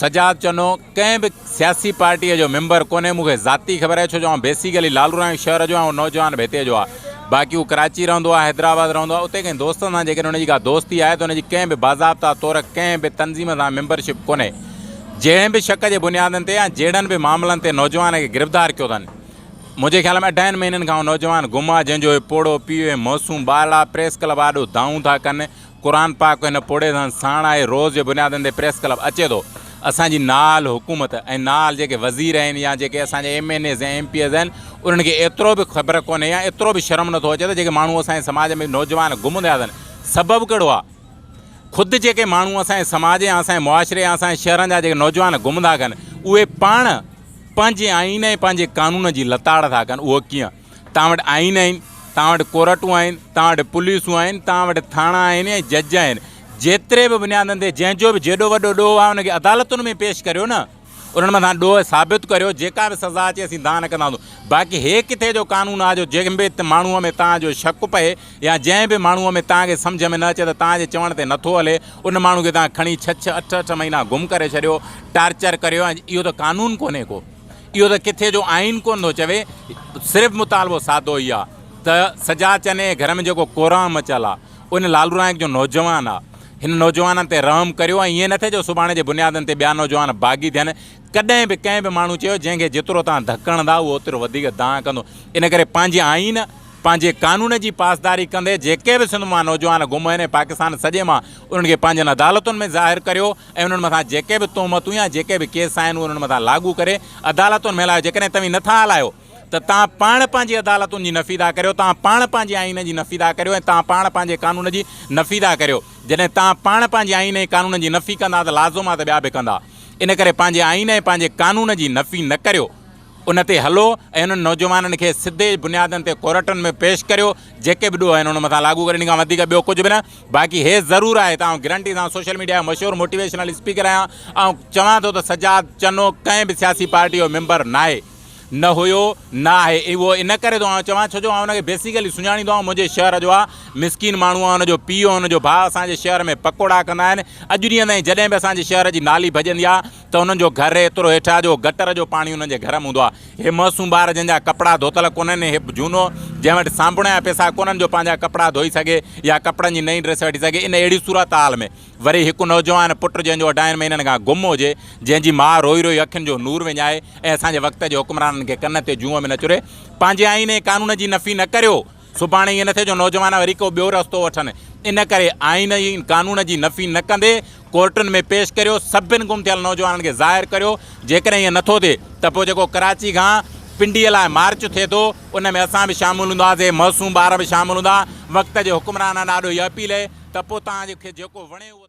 سجاد چنو، ڪنهن به سياسي پارٽيء جو ميمبر ڪونهي، مون کي ذاتي خبر آهي، ڇو جو آئون بيسيڪلي لالوراڻي شهر جو آهيان، اهو نوجوان به هتي جو آهي، باقي هو ڪراچي رهندو آهي، حيدرآباد رهندو آهي، اتي ڪنهن دوست سان جيڪڏهن هن جي ڪا دوستي آهي ته هن جي ڪنهن به باضابطه طور ڪنهن به تنظيم سان ميمبرشپ ڪونهي، جهڙين به شڪ جي بنيادن تي يا جهڙن به معاملن تي نوجوان کي گرفتار ڪيو اٿن، منهنجي خيال ۾ اڍائين مهينن کان اهو نوجوان گم آهي، جنهن جو هي پوڙهو پيء ۽ معصوم ٻارڙا پريس ڪلب آڏو دانهون ٿا ڪن، قرآن پاڪ به هن پوڙهي سان ساڻ آهي، روز جي بنيادن تي پريس ڪلب اچي ٿو، اسان جي نال حڪومت ۽ نال جيڪي وزير آهن يا جيڪي اسان جا ايم اين ايز يا ايم پي ايز آهن انهن کي ايترو به خبر ڪونهي يا ايترو به شرم نٿو اچي ته جيڪي ماڻهو اسان جي سماج ۾ نوجوان گم ٿيا اٿن سبب ڪهڙو آهي خود جيڪي ماڻهو اسان جي سماج يا اسان جي معاشري يا اسان جي شهرن جا جيڪي نوجوان گم ٿا ڪن اهي پاڻ پنهنجي آئين ۽ پنهنجي قانون جي لتاڙ ٿا ڪن اهو ڪيئن توهان وٽ آئين آهن، توهان وٽ ڪورٽون آهن، توهان وٽ پوليسون آهن، توهان وٽ ٿاڻا آهن ۽ جج آهن، جيتري به بنيادن تي جنهن جو به جيڏو وڏو ڏوهه آهي ان کي عدالتن ۾ پيش ڪريو نه، انهن مٿان ڏوهه ثابت ڪريو، جيڪا به سزا اچي اسين دانهن نه ڪنداسون، باقي هي ڪٿي جو قانون آهي جو جنهن به ماڻهوء ۾ توهان جو شڪ پئي يا جنهن به ماڻهوء ۾ توهان کي سمجهه ۾ نه اچي ته توهان جي چوڻ تي نٿو هلي ان ماڻهو کي توهان کڻي ڇهه ڇهه اٺ اٺ مهينا گم ڪري ڇڏيو، ٽارچر ڪريو ۽ اهو ته قانون ڪونهي ڪو. اهو ته ڪٿي جو آئين ڪونه ٿو چوي، صرف مطالبو سادو هي آ ته سجا چني جي گهر ۾ جيڪو ڪورانء مچيل آ، ان لالو نائيڪ جو نوجوان آ، هن نوجوانن تي رحم ڪريو ۽ ائين نه ٿئي جو سڀاڻي جي بنيادن تي ٻيا نوجوان باغي ٿين، ڪڏهن به ڪنهن به ماڻهو چيو جنهن کي جيترو توهان ڌڪڻدا اهو اوترو وڌيڪ دانهن ڪندو، ان ڪري پنهنجي آئين، پنهنجي قانون جي پاسداري ڪندي جيڪي به سنڌ مان نوجوان گم آهن ۽ پاڪستان سڄي مان انهن کي پنهنجن عدالتن ۾ ظاهر ڪريو، ۽ انهن مٿان جيڪي به تهمتون يا جيڪي به ڪيس آهن اهي انهن مٿان لاڳو ڪري عدالتن ۾ هلايو جيڪڏهن توهين نه ٿا هلايو ته توهان پاڻ پنهنجي عدالتن جي نفي ٿا ڪريو توهان پاڻ پنهنجي آئين جي نفي ٿا ڪريو ۽ توهان پاڻ پنهنجي قانون جي نفي ٿا ڪريو جڏهن توهان پاڻ پنهنجي آئين ۽ قانون جي نفي ڪندا ته لازم آهي ته ٻيا به ڪندا ان ڪري پنهنجي آئين ۽ پنهنجي قانون جي نفي نه ڪريو ان تي هلو ۽ انهن نوجوانن کي سڌي بنيادن تي ڪورٽن ۾ پيش ڪريو جيڪي به ڏوهه آهن انهن مٿان لاڳو ڪريو ان کان وڌيڪ ٻيو ڪجهه به نه باقي هيء ضرور آهي ته آئون گرنٽي سان سوشل ميڊيا جو مشهور موٽيويشنل اسپيڪر آهيان. آئون چوان ٿو ته سجاد چنو ڪنهن به سياسي پارٽيء جو ميمبر ناهي، نه هيو، نه آهي. اهو ان ڪري ٿو آئون چوان، ڇو جو آئون هن کي بيسيڪلي سڃاڻيندو آهيان. هو منهنجي شهر جو آهي، مسڪين ماڻهو آهي، هن جو پيء ۽ هن جو ڀاء اسان جي شهر ۾ پڪوڙا ڪندا آهن. اڄ ڏينهن تائين جڏهن به اسان جي شهر جي نالي ڀڄندي آهي ته انهن جو گهر ايترو هيٺ آ جو گٽر جو پاڻي انهن جي گهر م هوندو آ. هي معصوم ٻار جنهن جا ڪپڙا ڌوتل ڪونهن ۽ هي جهونو جنهن وٽ سانڀڻي جا پيسا ڪونهن جو پنهنجا ڪپڙا ڌوئي سگهي يا ڪپڙن جي نئين ڊريس وٺي سگهي ان اهڙي صورتحال ۾ وري هڪ نوجوان پٽ جنهن جو اڍائين مهينن کان گم هجي جنهن جي ماء روئي روئي اکين جو نور وڃائي ۽ اسان جي وقت جي حڪمرانن کي ڪن تي جونء ۾ نه چري پنهنجي آئين ۽ قانون جي نفي نه ڪريو سڀاڻي ائين نه ٿئي جو نوجوان وري ڪو ٻيو رستو وٺن، ان ڪري آئين ۽ قانون جي نفي نه ڪندي ڪورٽن ۾ پيش ڪريو، سڀن گم ٿيل نوجوانن کي ظاهر ڪريو، جيڪڏهن ائين نه ٿو ٿئي ته پوء جيڪو ڪراچي کان پنڊيء لاء مارچ ٿئي ٿو، ان ۾ اسان به شامل هونداسين، معصوم ٻار به شامل هوندا، وقت جي حڪمرانن آڏو هيء اپيل هي ته پوء توهان کي جيڪو وڻي اهو تشريح.